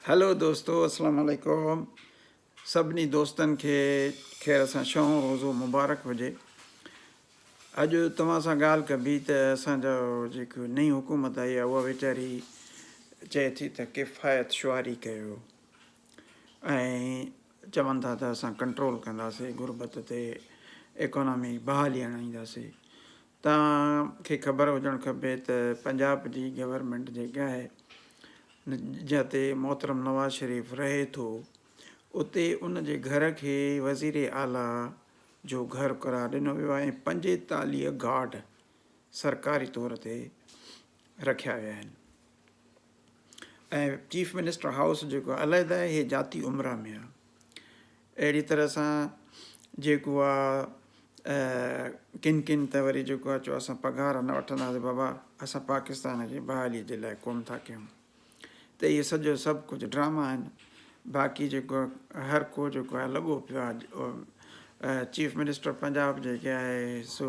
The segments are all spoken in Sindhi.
هيلو دوستو اسلام عليڪم سڀني دوستن کي خير سان شون روزو مبارڪ هجي اڄ توهان سان ڳالهه ڪبي ته اسان جو جيڪو نئين حڪومت آئي آهي اها ويچاري چئي ٿي ته ڪفايت شعاري ڪيو ۽ چون ٿا ته اسان ڪنٽرول ڪنداسي غربت تي ايڪانامي بحالي آڻينداسي توهان کي خبر هجڻ کپي ته پنجاب جي گورنمينٽ جيڪي آهي جتي محترم نواز شريف رهي ٿو اتي ان جي گهر کي وزير اعليٰ جو گهر قرار ڏنو ويو آهي ۽ پنجيتاليهه گارڊ سرڪاري طور تي رکيا ويا آهن. ۽ چيف منسٽر هائوس جيڪو علحده آهي هي ذاتي عمرا ۾ آهي اهڙي طرح سان جيڪو آهي ڪن ڪن ته وري جيڪو آهي چو اسان پگهار نه وٺنداسي بابا اسان پاڪستان جي بحالي جي لاء ڪوم ٿا ڪيون ته اهي سڄو سڀ ڪجهه ڊراما آهن باقي جيڪو هر ڪو جيڪو آهي لڳو پيو آهي چيف منسٽر پنجاب جيڪي آهي سو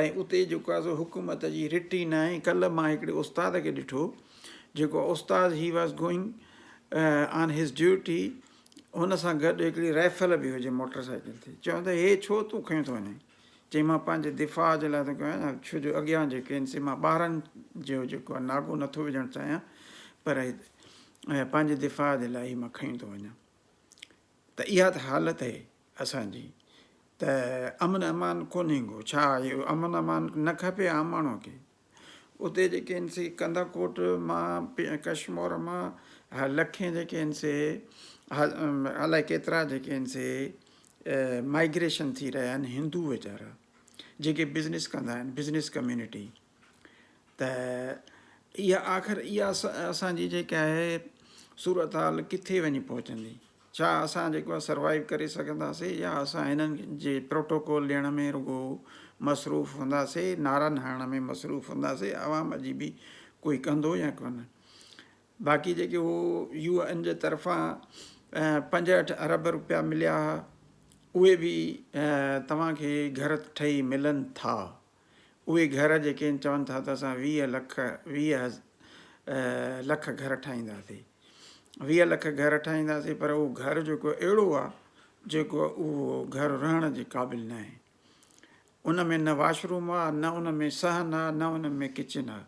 ۽ اتي جيڪو آهي سو حڪومت جي رٽ ئي ناهي ڪلهه مان هڪڙي استاد کي ڏٺو جيڪو استاد he was going on his duty هن سان گڏ هڪڙي رائفل به هجي موٽر سائيڪل تي چون ته هي ڇو تون کيون ٿو وڃين چي مان پنهنجي دفاع جي لاء ٿو ڪيان ڇو جو اڳيان جيڪي آهن سي مان ٻارن جو جيڪو آهي ناگو نٿو وجهڻ چاهيان پر پنهنجي دفاع جي لاء هي مان کيون ٿو وڃان ته اها ته حالت اهي اسان جي ته امن امان ڪونهي گو ڇا اهو امن امان نه کپي عام ماڻهو کي اتي جيڪي آهن سي ڪندا ڪوٽ مان ڪشمور مان لکين جيڪي آهن سي الائي ڪيترا جيڪي آهن سي مائگريشن ٿي رهيا آهن هندو ويچارا جيڪي بزنس ڪندا آهن بزنس ڪميونٽي ته اها آخر اها اسان جي جيڪا آهي صورتحال ڪٿي وڃي پهچندي ڇا اسان جيڪو آهي سروائيو ڪري سگهنداسي يا اسان هنن جي پروٽوڪول ڏيڻ ۾ رڳو مصروف هونداسي نعرن هڻڻ ۾ مصروف هونداسي عوام جي به ڪوئي ڪندو يا ڪونه باقي جيڪي هو يو اين جي طرفان پنجهٺ ارب روپيا مليا هئا اهي به توهان کي گهر ٺهي ملن ٿا اهي گهر جيڪي ان چون ٿا ته اسان ويهه لک ويهه لک گهر ٺاهينداسي ويهه لک گهر ٺاهينداسي پر اهو گهر جيڪو اهڙو آ جيڪو اهو گهر رهڻ جي قابل ناهي ان ۾ نه واش روم آ نه ان ۾ صحن آ نه ان ۾ ڪچن آ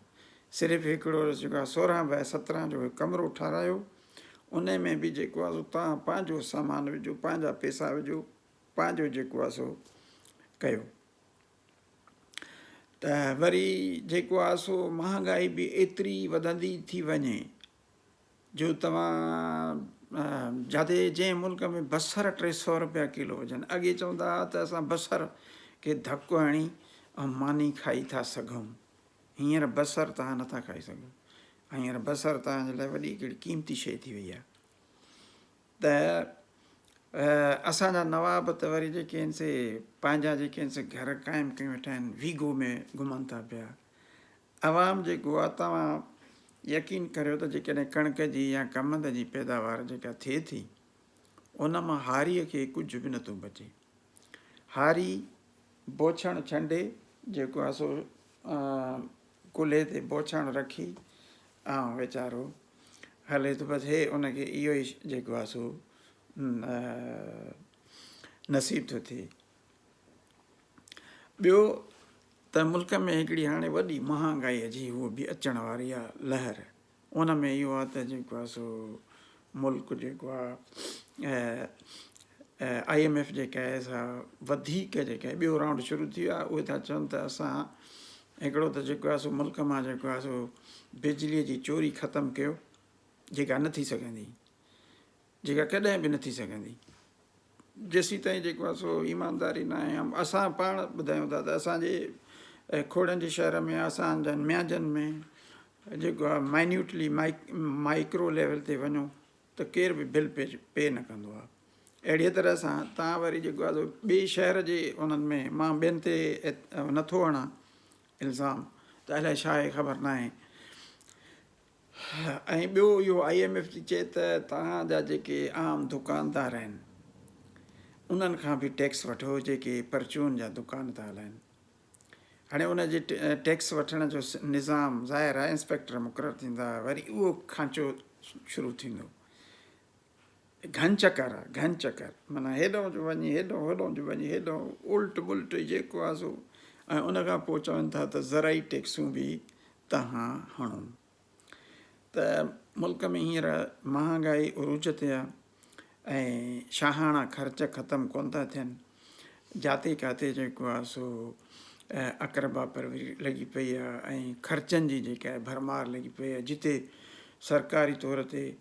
صرف هڪڙو جيڪو آ سورهن بائي سترهن جو هڪ ڪمرو ٺارايو ان ۾ به جيڪو آ سو توهان پنهنجو سامان وجهو پنهنجا پئسا وجهو پنهنجو جيڪو آ سو ڪيو ته وري جيڪو آهي سو مهانگائي به ايتري وڌندي ٿي وڃي جو توهان جاٿي جنهن ملڪ ۾ بصر ٽي سؤ روپيا ڪلو هجن اڳي چوندا هئا ته اسان بصر کي ڌڪ هڻي ۽ ماني کائي ٿا سگهون هينئر بصر توهان نٿا کائي سگهو هينئر بصر توهان جي لاء وڏي هڪڙي قيمتي شيء ٿي وئي آهي ته اسان جا نواب ته وري جيڪي آهن سي پنهنجا جيڪي آهن سي گهر قائم ڪيون ويٺا آهن ويگو ۾ گهمن ٿا پيا عوام جيڪو آهي توهان يقين ڪريو ته جيڪڏهن ڪڻڪ جي يا ڪمند جي پيداوار جيڪا ٿئي ٿي ان مان هاريء کي ڪجهه به نٿو بچي هاري بوڇڻ ڇنڊي جيڪو آهي سو ڪلهي تي بوڇڻ رکي آئون ويچارو هلي ٿو بس هي ان کي اهو ئي جيڪو آهي سو نصيب ٿو ٿئي ٻيو ته ملڪ ۾ هڪڙي هاڻي وڏي مهانگائي جي هو به اچڻ واري آهي لهر ان ۾ اهو آهي ته جيڪو آهي سو ملڪ جيڪو آهي آء ايم ايف جيڪا آهي سا وڌيڪ جيڪا آهي ٻيو رائونڊ شروع ٿي ويو آهي اهي ٿا چون ته اسان هڪڙو ته جيڪو آهي سو ملڪ مان جيڪو آهي سو بجلي جي چوري ختم ڪيو جيڪا نه ٿي سگهندي جيڪا ڪڏهن به نه ٿي سگهندي جيسيتائين جيڪو آهي سو ايمانداري ناهي ۽ اسان پاڻ ٻڌايون ٿا ته اسان جي کوڙن جي شهر ۾ اسان جن ميانجن ۾ جيڪو آهي مائنيوٽلي مائڪرو ليول تي وڃو ته ڪير به بل پي پي نه ڪندو آهي اهڙيء طرح سان تان وري جيڪو آهي ٻئي شهر جي انهن ۾ مان ٻين تي نٿو هڻان الزام ته الائي ڇا آهي خبر ناهي ۽ ٻيو اهو آء ايم ايف ٿي چئي ته توهان جا جيڪي عام دڪاندار آهن انهن کان به ٽيڪس وٺو جيڪي پرچون جا دڪان ٿا هلائن هاڻي ان جي ٽيڪس وٺڻ جو نظام ظاهر آهي انسپيڪٽر مقرر ٿيندا وري اهو کانچو شروع ٿيندو گهن چڪر آ گهن چڪر معنيٰ هيڏانهن جو وڃي هيڏانهن هوڏانهن جو وڃي هيڏانهن الٽ ملٽ جيڪو آ سو ۽ ان کان پوء چون ٿا ته زرعي ٽيڪسون به تهان هڻو ته ملڪ ۾ هينئر مهانگائي عروج تي آ ۽ شاهاڻا خرچ ختم ڪون ٿا ٿين جاتي ڪاتي جيڪو آ سو اقربا پروري لڳي پئي آ ۽ خرچن جي جيڪا ڀرمار لڳي پئي آ جتي سرڪاري طور تي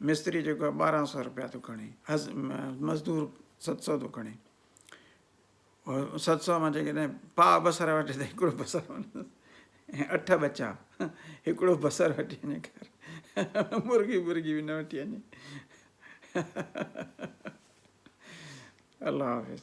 مستري جيڪو آهي ٻارهن سؤ روپيا ٿو کڻي مزدور ست سؤ ٿو کڻي ست سؤ مان جيڪڏهن پاء بصر وٺي ته هڪڙو بصر ۽ اٺ ٻچا هڪڙو بصر وٺي وڃي کير مرغي برغي به نه وٺي وڃي الله حافظ